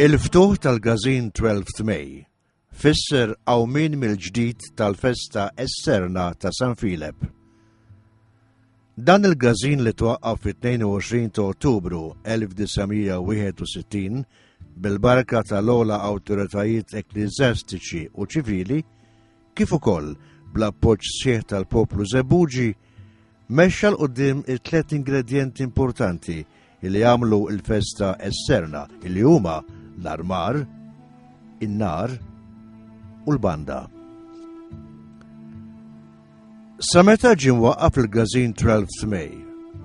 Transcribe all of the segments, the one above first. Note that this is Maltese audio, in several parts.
Il-ftuħ tal-gazin 12 May fisser għawmin mill-ġdid tal-festa esterna ta' San Filep. Dan il-gażin li twaqqaf fit-22 ta' Ottubru 1961 bil-barka tal-ola awtoritajiet ekklizjastiċi u ċivili, kif ukoll bl-appoġġ sħiħ tal-poplu Zebuġi, mexxa l-qudiem it-tliet ingredjenti importanti li jagħmlu l-festa esterna li huma l-armar, in-nar u l-banda. Sa meta ġie mwaqqaf il-gazin 12 May,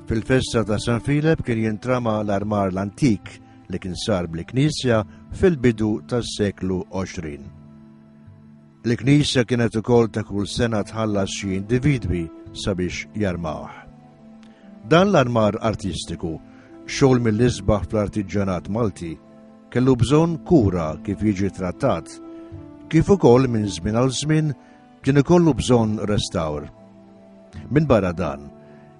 fil-festa ta' San Filep kien jintrama l-armar l-antik li kien sar bl-Knisja fil-bidu tas-seklu 20. L-Knisja kienet ukoll ta' kull sena tħallas xi individwi sabiex jarmawh. Dan l-armar artistiku, xogħol mill-isbaħ fl-artiġġanat Malti, kellu bżonn kura kif jiġi trattat, kif ukoll minn żmien għal żmien kien ikollu bżonn restawr. Minn barra dan,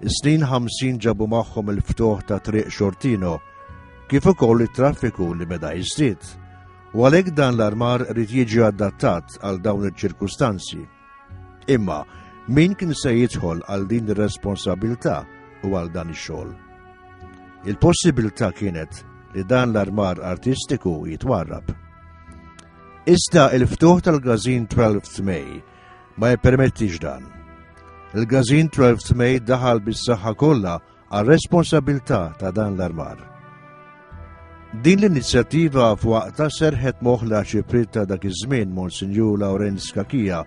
is-snin 50 ġabu magħhom il-ftuħ ta' triq xortino, kif ukoll it-traffiku li beda jiżdied u għalhekk dan l-armar rrid jiġi adattat għal dawn iċ-ċirkustanzi. Imma min kien se jidħol għal din ir-responsabilità u għal dan ix-xogħol. Il-possibilità kienet li dan l-armar artistiku jitwarrab. Iżda il-ftuħ tal-gazin 12 May ma jippermettix dan. Il-gazin 12 May daħal bis-saħħa kollha għal responsabilità ta' dan l-armar. Din l-inizjattiva f'waqta serħet moħla ċiprit ta' dak iż-żmien Monsinjur Lawrenz Kakija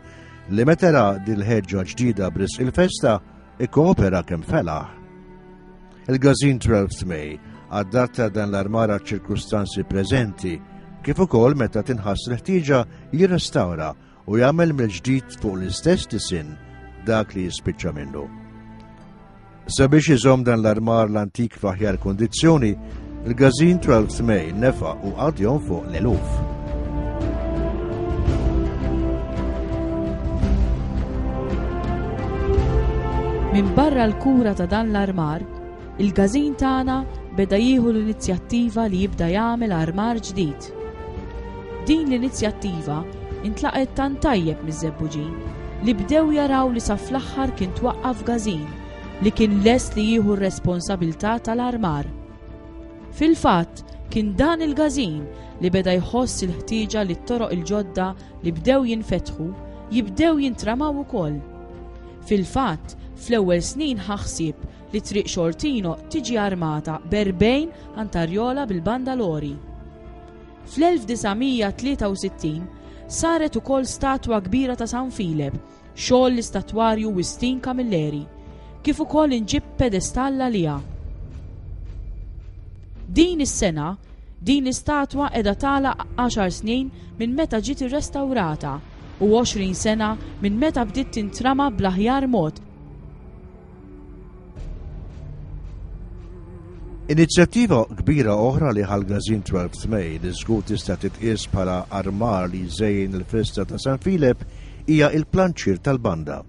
li metera dil-ħeġġa ġdida bris il-festa ikkoopera kemm felaħ. Il-gazin 12 May adatta dan l-armara ċirkustanzi preżenti kif ukoll meta tinħass l-ħtieġa jirrestawra u jagħmel mill-ġdid fuq l-istess disinn dak li jispiċċa minnu. Sabiex iżomm dan l-armar l-antik f'aħjar kondizzjoni, il-gazin tral tmej nefa u għadjon fuq l-eluf. Minn barra l-kura ta' dan l-armar, il-gazin tagħna beda jieħu l-inizjattiva li jibda jagħmel armar ġdid. Art. Din l-inizjattiva intlaqgħet tant tajjeb miż-Żebbuġin li bdew jaraw li sa fl-aħħar kien twaqqaf gażin li kien lest li jieħu r-responsabilità tal-armar. Fil-fatt, kien dan il-gażin li beda jħoss il-ħtieġa li t-toroq il-ġodda li bdew jinfetħu jibdew jintramaw ukoll. Fil-fatt, fl-ewwel snin ħa ħsieb li Triq Xortino tiġi armata b'erbgħin antarjola bil-banda Lori. Fl-1963 saret ukoll statwa kbira ta' San Filep, xogħol l-istatwarju Wistin Camilleri, kif ukoll inġib pedestall għaliha. Din is-sena, din l-istatwa qiegħda tagħlaq għaxar snin minn meta ġiet irrestawrata u 20 sena minn meta bdiet tintrama bl-aħjar mod Inizjattiva kbira oħra li ħal-gazin 12 May li żgur tista' titqies bħala armar li jżejjin il-festa ta' San Filep hija il-planċir tal-banda.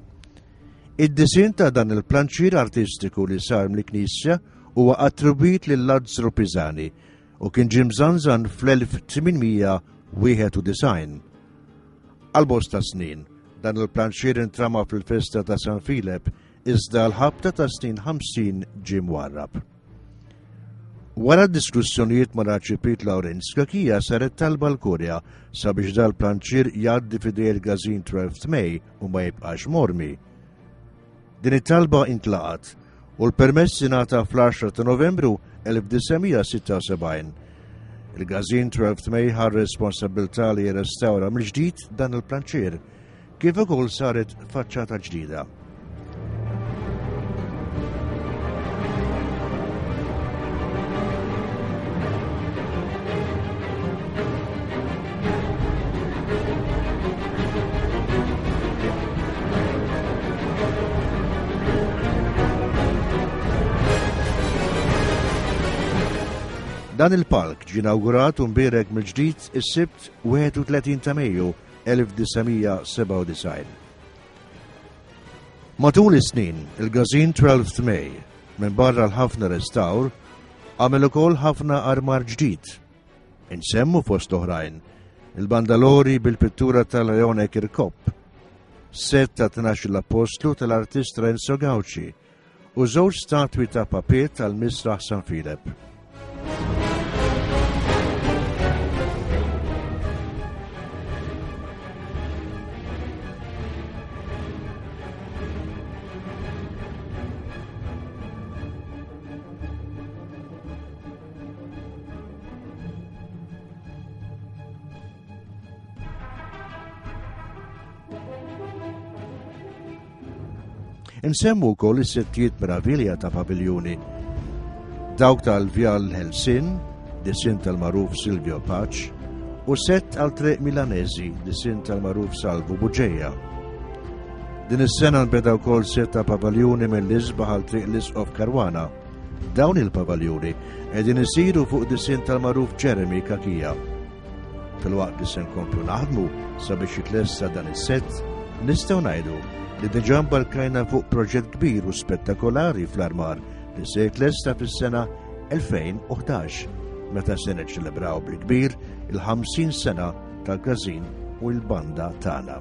Id-disin ta' dan il-planċir artistiku li sar mill-Knisja huwa attribwit lil Lazzaro Pisani u kien ġimżanżan fl-1891. Għal bosta snin, dan il-pranċier intrama fil-festa ta' San Filep, iżda l-ħabta ta' snin 50 ġie mwarrab. Wara diskussjonijiet ma' Raċipit Lawrenz Kakija saret talba l-Kurja sabiex dal-planċir jgħaddi fidej il-gazin 12 May u ma jibqax mormi. Din it-talba intlaqat u l-permess ingħata fl-10 ta' Novembru 1976. Il-gazin 12 May ħar responsabilità li jirrestawra mill-ġdid dan il-planċier, kif ukoll saret faċċata ġdida. Dan il-park ġie inawgurat u mbierek mill-ġdid is-Sibt 31 ta' Mejju 1997. Matul is-snin, il-gazin 12 May minn barra l-ħafna restawr għamel ukoll ħafna armar ġdid Insemmu fost oħrajn il-bandalori bil-pittura tal-Leone Kirkop, set ta' tnax l-Apostlu tal-artist Renzo Gauci u żewġ statwi ta' papiet tal-Misraħ San Filep. Insemmu wkoll is-settijiet meravilja ta' paviljuni. Dawk tal-Vjal Helsin, disin tal-maruf Silvio Paċ, u sett għal triq Milanesi, disin tal-maruf Salvu Buġeja. Din is-sena nbeda wkoll sett ta' paviljuni mill-isbaħ għal triq l-isqof Karwana Dawn il-pavaljuni qegħdin isiru fuq disinn tal-magħruf Jeremy Kakija. Filwaqt li se nkomplu naħdmu sabiex jitlessa dan is-sett, nistgħu ngħidu li diġà mbarkajna fuq proġett kbir u spettakolari fl-armar li se jitlesta fis-sena 2011 meta se niċċelebraw bil-kbir il-50 sena tal-każin u l-banda tagħna.